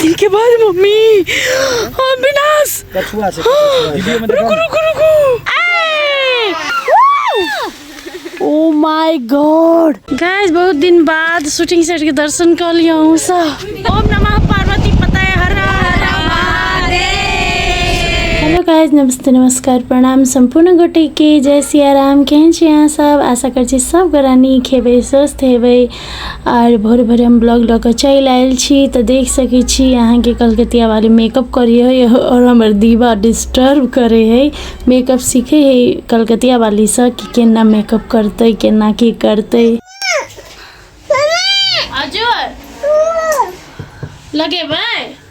इनके बाद मम्मी हाँ विनाश कछुआ से वीडियो में रुको रुको रुको ओ माय गॉड गाइस बहुत दिन बाद शूटिंग सेट के दर्शन कर लिया हूँ सब ओम नमः पार्वती पता है हर हर हेलो गाइज नमस्ते नमस्कार प्रणाम सम्पूर्ण गोटे के जय सिया राम केहन छी अहाँ सब आशा कर छी सब गोरा नीक हेबै स्वस्थ हेबै आर भोरे भोरे हम ब्लॉग लऽ कऽ चलि आयल छी तऽ देख सकै छी अहाँके कलकतिया वाली मेकअप करै हइ आओर हमर दीवा डिस्टर्ब करै हइ मेकअप सीखै हइ कलकतिया वालीसँ कि केना मेकअप करतै केना की करतै अजय लगेबै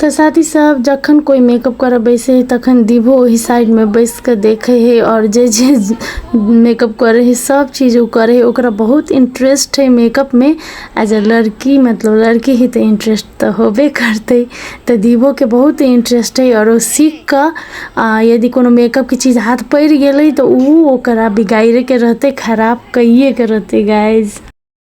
तऽ साथी सब जखन कोइ मेकअप करऽ बैसे है तखन दीभो ओहि साइडमे बैस कऽ देखै है आओर जे जे मेकअप करै है सब चीज ओ करै है ओकरा बहुत इंटरेस्ट है मेकअपमे आ जे लड़की मतलब लड़की है तऽ इंटरेस्ट तऽ होबे करतै तऽ दीभोके बहुत इंटरेस्ट है आओर ओ सीख कऽ आ यदि कोनो मेकअपके चीज हाथ पड़ि गेलै तऽ ओ ओकरा बिगाड़िके रहतै खराब कैये के रहतै गाइज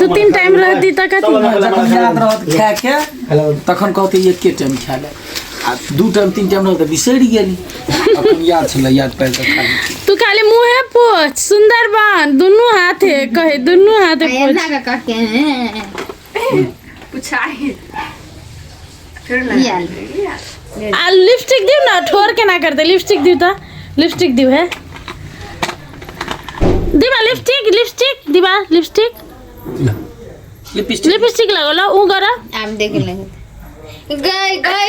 दू तीन टाइम रहती तऽ कथी जखन याद रहत खाएके तखन कहते एके टाइम खाए ले आ दू टाइम तीन टाइम रहत तऽ बिसरि गेली अपन याद छलै याद पाबि कऽ खा ली। तू खाली मुँहे पोछ सुंदर बन दुनू हाथे कहे दुनू हाथे पोछ एना के कहके पुछाई फिर ना ये आलू। ये आलू। आ लिपस्टिक दियो ना ठोर के ना कर दे लिपस्टिक दियो ता लिपस्टिक दियो है दीवा लिपस्टिक लिपस्टिक दीवा लिपस्टिक लिपस्टिक लिपस्टिक लगोला ऊ गरा हम देख लेंगे गए गए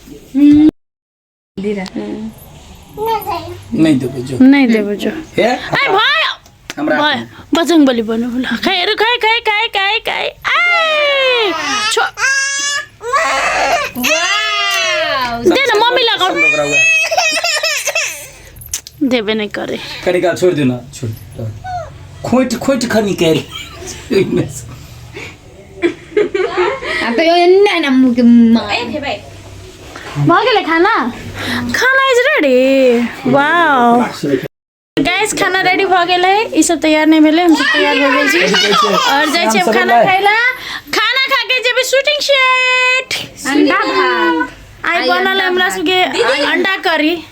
नहीं देबो जो नहीं देबो जो ए भाई हमरा बजंग बली बनो बोला खाए रे खाए खाए खाए खाए खाए ए छो दे ना मम्मी लगा देबे नहीं करे करे का छोड़ देना छोड़ खोट खोट खनी करे अब तो ये ना ना मुके मार ए भाई मार के खाना खाना इज रेडी वाओ गाइस खाना रेडी भ गेल है ई सब तैयार नहीं भेले हम सब तैयार हो गेल छी और जाय छी खाना खाइला खाना खा के जेबे शूटिंग सेट अंडा भात आई बनल हमरा सबके अंडा करी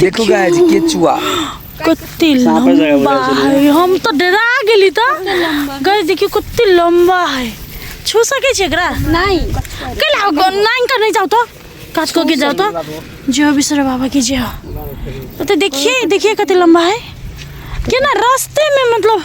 देखू गाय जी केचुआ कत्ते साँपे जगह लंबा बुझाइ छलै। है हम तो डरा गेली त गए देखियो कत्ते लंबा है छू सके छी एकरा नहीं कैला नाइन का नहीं जाओ तो काज को के जाओ तो जो बिसर बाबा के जे हो तो देखिए देखिए कत्ते लंबा है केना रास्ते में मतलब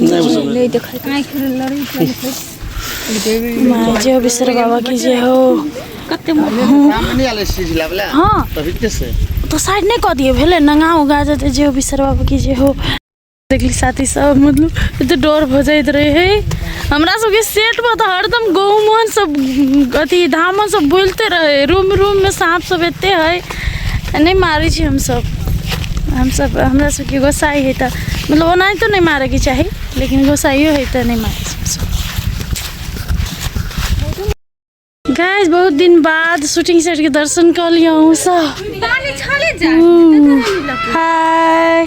नहि बुझल नहि देखै आँखि लड़ै माय जे बिसर बाबा की जे हो कते हँ तो साइड नहि कऽ दियौ भेलै नंगा उगा जेतै जे हो बिसर बाबा की जे हो देखली साथी सब मतलब एते डर भऽ जाइत रहे है हमरा सबके सेट पर तऽ हरदम गहुमन सब अथी धामन सब बोलते रहे रूम रूम में सांप सब एते है नहि मारै छी हमसभ हमसभ हमरा सभके गोसाइ हइ तऽ मतलब ओनाहितो नहि मारैके चाही लेकिन गोसाइयो हइ तऽ नहि मारै छी हमसभ गाइस बहुत दिन बाद शूटिंग सेट के दर्शन कर लिया हूँ सब हाय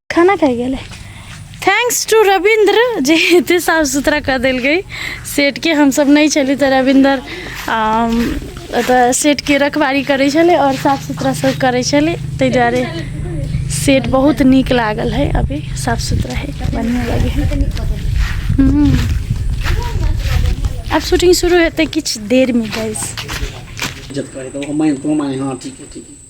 खाना खाए गेले थैंक्स टू रविंद्र जे एते साफ सुथरा कर दिल गई सेट के हम सब नहीं चली तो रविंद्र अम, ओतऽ सेट के रखवारी करे छले और साफ सुथरा सब करे छले ताहि दुआरे सेट बहुत नीक लागल है अभी साफ सुथरा है बढ़िया लगे है हम्म। अब शूटिंग शुरू हेतै किछु देर में गाइस जब करे तो हम माने तो माने हाँ ठीक है ठीक है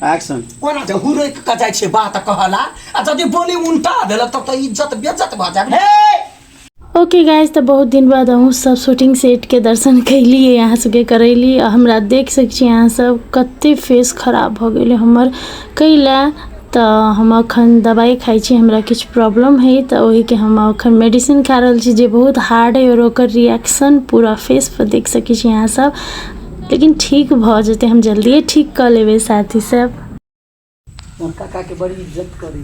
एक्शन कोना जे हुरै के जाइ छै बात कहला आ जदि बोली उल्टा देलक तब तऽ इज्जत बेइज्जत भऽ जायब हे ओके गाइज तऽ बहुत दिन बाद अहूँ सब शूटिंग सेटके दर्शन कैलिए अहाँ सबके करैली आ हमरा देख सकै छी अहाँ सब कते फेस खराब भऽ गेलै हमर कैला तऽ हम अखन दबाइ खाइ छी हमरा किछु प्रॉब्लम हइ तऽ ओहिके हम अखन मेडिसिन खा रहल छी जे बहुत हार्ड हइ आओर ओकर रिएक्शन पूरा फेसपर देख सकै छी अहाँसभ लेकिन ठीक भऽ जेतै हम जल्दिए ठीक कऽ लेबै साथीसभ काकाके बड़ी इज्जत करै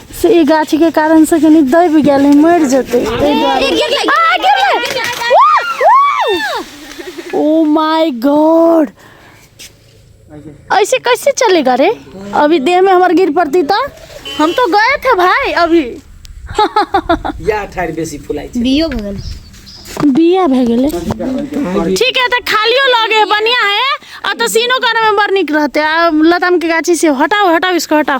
से ई गाछी के कारण से कनी दब गेल है मर जेते ताहि दुआरे आ, गिरलै! ओ माय गॉड ऐसे कैसे चलेगा रे अभी देह में हमारे गिर पड़ती था हम तो गए थे भाई अभी या ठाड़ बेसी फुलाई छै बियो भऽ गेल बिया भए गेलै ठीक है तऽ खालियो लगे है बढ़िया है आ तऽ सीनो करे में बड़ नीक रहते आ लताम के गाछी से हटाओ हटाओ इसको हटाओ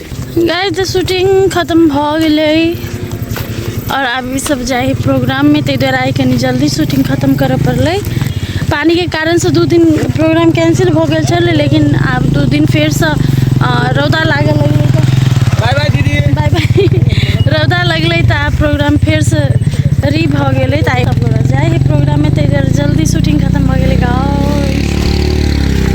गाय तऽ शूटिंग खतम भऽ गेलै आओर आब सब जाइ प्रोग्राममे ताहि दुआरे आइ कनि जल्दी शूटिंग खतम करऽ पड़लै पानिके कारणसँ दू दिन प्रोग्राम कैंसिल भऽ गेल छलै लेकिन आब दू दिन फेरसँ रौदा लागल लगलै बाय बाय दीदी बाय बाय रौदा लगलै तऽ आब प्रोग्राम फेरसँ री भऽ गेलै तऽ आइ जाइ है प्रोग्राममे ताहि दुआरे जल्दी शूटिंग खतम भऽ गेलै गाँव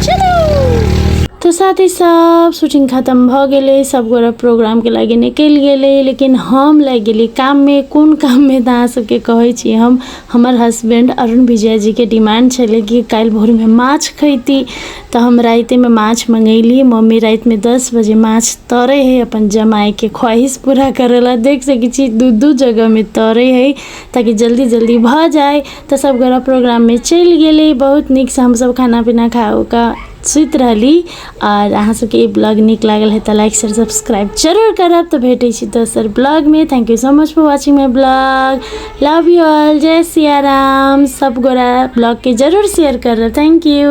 चलू तो साथ ही सब शूटिंग खत्म भ गेले सब गोरा प्रोग्राम के लागे निकल गेले लेकिन हम लग गेली काम में कोन काम में तऽ अहाँ सबके कहै छी हम हमर हस्बैंड अरुण विजय जी के डिमांड छलै कि काल्हि भोर में माछ खैती तऽ हम राते में माछ मंगैली मम्मी रात में दस बजे माछ तरे है अपन जमाई के ख्वाहिश पूरा करेला देख सकै छी दू दू जगह में तरे है ताकि जल्दी जल्दी भ जाए तऽ सब गोरा प्रोग्राम में चलि गेले बहुत नीक से हम सब खाना पीना खा उका सुति रहली आओर अहाँ सबके ई ब्लॉग नीक लागल है तऽ लाइक शेयर सब्सक्राइब जरूर करब तऽ भेटै छी दोसर ब्लॉगमे thank you so much for watching my blog love you all जय सिया राम सब गोरा ब्लॉगके जरूर शेयर करब थैंक यू